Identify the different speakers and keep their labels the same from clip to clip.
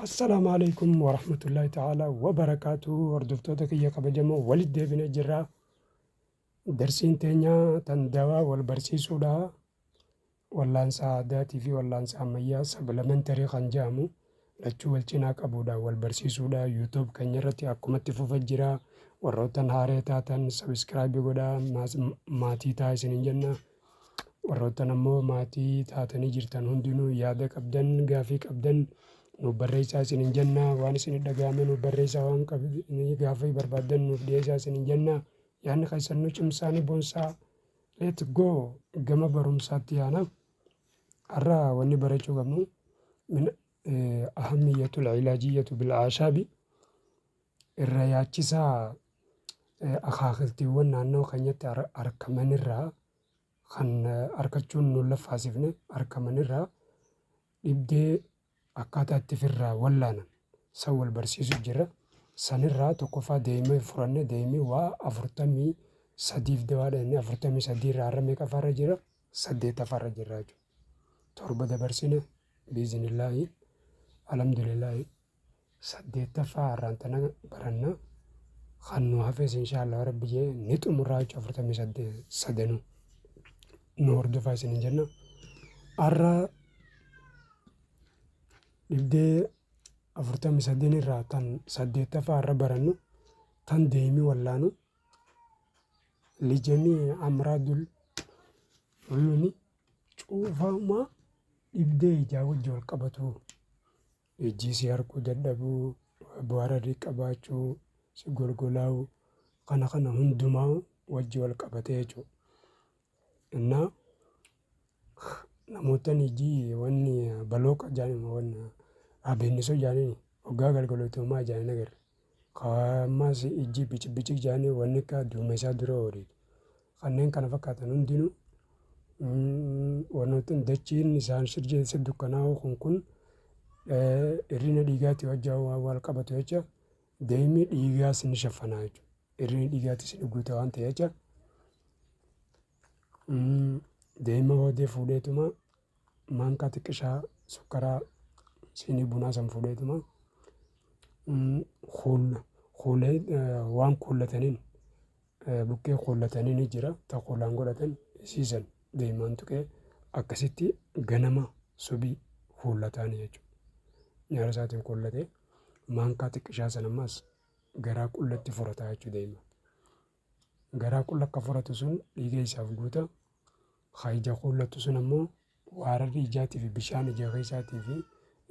Speaker 1: Assalaamu aleykum warahmatullaahi ta'aalaa wabarakaatuhu hordoftoota kiyya kabajamoo walitti deebinee jirra darsiin teenya tan dawaa wal barsiisuudha wallaansa aadaatii fi wallaansa ammayyaa sabilamentarii kan jedhamu lachuu wal cinaa qabuudha wal barsiisuudha yuutuub keenya irratti akkumatti fufa jira warroottan haaree taatan sabiskiraabii godhaa maas- maatii taa isinin jenna Warroottan ammoo maatii taatanii jirtan hundinuu yaada qabdan, gaafii qabdan nuuf barreessaa isinin jenna. Waan isinit dhaga'ame nuuf barreessaa waan gaafii barbaaddan nuuf dhiyeessaa isinin jenna. Yaanni keessan nu cimsaa ni boonsaa. Let go gama barumsaatti yaana. Har'a wanni barachuu qabnu min ahamiyyatul ilajiyyatu bil aashaabi. Irra yaachisaa akaakiltiiwwan naannawa keenyatti arkamanirraa kan arkachuun nun laffaasifne arkamanirraa dhibdee akkaataa itti firraa wallaanan san wal barsiisu jira. Sanirraa tokkoffaa deemee furanne deemee waa afurtamii sadiif dawaadha inni afurtamii sadiirraa har'a meeqafaarra jira saddeettafaarra jirra jechuudha. Torba dabarsine biizinillaahi alhamdulillaahi. 8ffaa har'aan tana baranna kan nu hafes inshaallah rabbi jee ni xumurraa jechuudha afurtamii saddeet sadanuu nu hordofaa isinin jenna har'a dhibdee afurtamii sadeen irraa tan saddeettaffaa har'a barannu tan deemii wallaanu lijanii amraadul uyuni cuufamaa dhibdee ijaa wajji wal qabatuu Ijji si arguu dadhabuu, boararri qabaachuu, si golgolaa'u kana kana hundumaa wajji wal qabatee jechuudha. Innaa namoottan ijji wanni balooqa jaanima wanna abeennisa jaaniin hoggaa galgalootu homaa ijaan hin agarre. Ka ammaas ijji bicibicii jaanii wanni akka duumessaa dura ooliitu. Kanneen kana fakkaatan hundinuu wannoottan dachiin isaan sirjeessa dukkanaa'oo kun kun irrina dhiigaatti wajjaa waan wal qabatu jecha deemni dhiigaas ni shaffanaa jechuudha. Irrina dhiigaattis ni guuta waan ta'e jecha deema booddee fuudheetuma maankaa xiqqishaa sukkaraa siinii bunaa san fuudheetuma kuulee waan kuullataniin buqqee kuullatanii ni jira ta kuulaan godhatan isiisan deemaan tuqee akkasitti ganama subii kuullataan jechuudha. Nyaara isaatiin kuullatee maankaa xiqqishaa san ammas garaa qullatti furataa jechuu deema. Garaa qulla kafuratu sun dhiiga isaaf guuta, ka ija quullatu sun ammoo waararri ijaatii fi bishaan ija keessaatii fi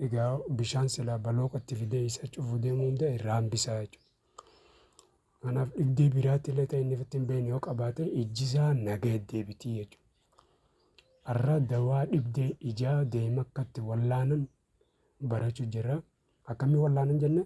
Speaker 1: egaa bishaan silaa balooqa itti fidee isa cufu deemu hunda irraa hambisa jechuudha. Kanaaf dhibdee biraatti illee ta'e inni ofitti hin beekne yoo qabaate ijji isaa nagaya deebitii jechuudha. Har'a dawaa dhibdee ijaa deema akkatti wallaanan barachuu jirra. Akkamii wallaanan jenne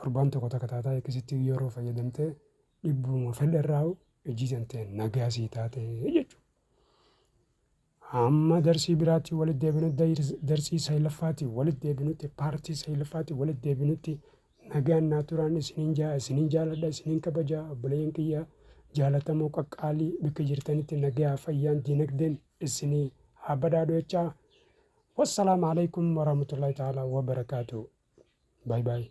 Speaker 1: Torbaan tokko takka taataa X-tti yeroo fayyadamtee dhibbuma fedhe irraa ijji tantee nagaa sii taatee jechuudha. Amma darsii biraatti walitti deebinu darsii saylaffaatti walitti deebinutti paartii saylaffaatti walitti deebinutti nagaan naa turaan isiniin jaa isiniin jaaladha isiniin kabajaa obboleeyyan kiyyaa jaalatamoo qaqqaalii bakka jirtanitti nagaa fayyaan diinagdeen isinii haa badhaadhu jechaa. Wassalaamu alaikum warahmatullahi ta'ala wabarakaatu. Baay baay.